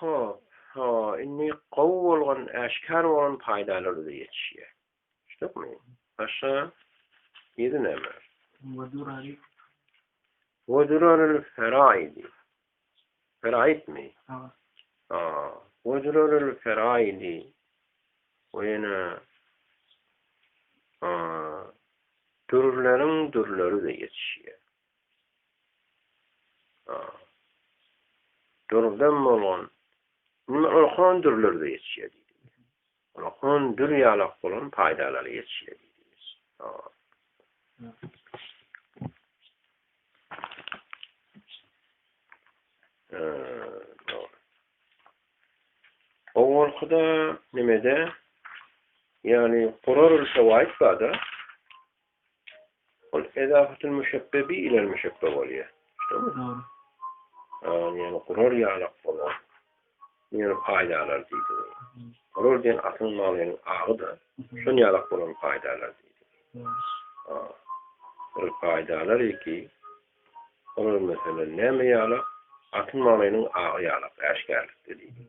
Hop, ha, indi gowy bolgan, äşkär bolan paýdalar-da ýetişýär. Düşdükmi? Başga ýedi näme? Wedurarylferaidi. Feraidmi? Hawa. Ha, wedurarylferaidi. O ýene dürleriň dürleri-de ýetişýär. Dürden bolan, indi oňa hon dürler-de ýetişýär diýdi. Oňa hon dür ýalak bolan paýdalary ýetişýär diýdi. Owalky-da, neme-de, ýagny gurar ýyl şewaýyt bar-da, Ol ezafatyl müşebbe bi ilel müşebbe bolýar. Şumy? Dogry. An ýaly gurar ýalak bolar. Bu ýaly paýdalar diýdi. Gurar diýen atyň malynyň agy-da, şon ýalak bolan paýdalar diýdi. Dogry. Ol paýdalar eki. Olar meselem näme ýalak? Atyň malynyň agy ýalak äşgärlikde diýdi.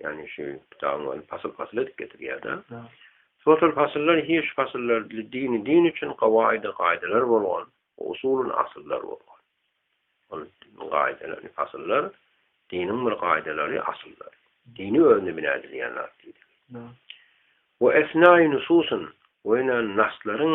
Ýagny şu kitabyň özi pasyl-pasyl edip getirýär-de. Şo-şol pasyllar hiş pasyllar dini din üçin gawaýydy gaýdalar bolgan, usulun asyllar bolgan. Ol gaýdalar, pasyllar diniň bir gaýdalary, asyllary. Dini özüne bina edilýän zat diýdi. We esnaýy nususun we ýöne naslaryň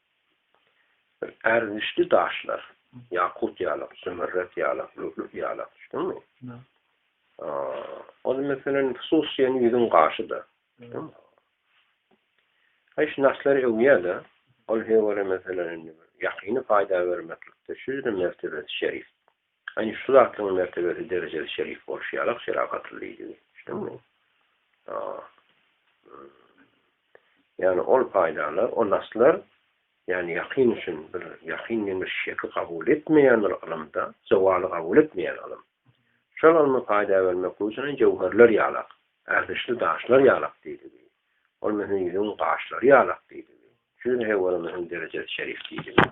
Ärgişli daşlar, ýakut ýalak, zümerret ýalak, lü'lü'u ýalak, düşdüňmi? Ol meselem hususyýen ýüzüň gaşyda. Aý şu daşlar öwýä-de, ol höwere meselem indi ýakyny paýda bermeklikde şudur mertebesi şerif. Ýagny şu zatlaryň mertebesi derejesi şerif bolşy ýaly ak şeragatly diýdigi. Düşdüňmi? Ýagny ol paýdarlar, ol naslar ýagny ýakyn üçin bir ýakyn diýen bir şeki kabul etmeýän bir ylymda, zewaly kabul etmeýän ylym. Şol ylmy paýda bermeklik üçin jöwherler ýalak, ärdişli daşlar ýalak diýdigi. Ol möhüm ýüzügiň gaşlary ýalak diýdigi. Şu ýüze he görä möhüm derejesi şerif diýdigi.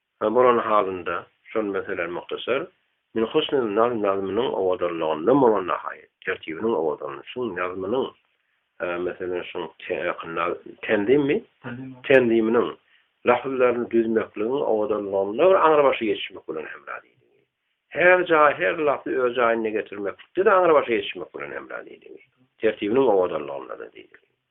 Şol bolan halynda, şol meselä muhtasar, Min husnil nazm nazmynyň owadanlygyndan bolan nahaýat, tertibiniň owadanlygy, şuň nazmynyň, meselem, şuň tenzimmi? tenziminiň lafzlaryny düzmekligiň owadanlygynda bir aňrybaşy ýetişmek bilen hemra diýdigi. Her jaý, her lafzy öz jaýynda getirmeklikde-de aňrybaşa ýetişmek bilen hemra diýdigi. Tertibiniň owadanlygynda-da diýdigi.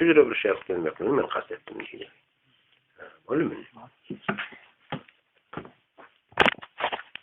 Hüjre bir şäh görmekligini men kast etdim diýýär. Boldumy indi?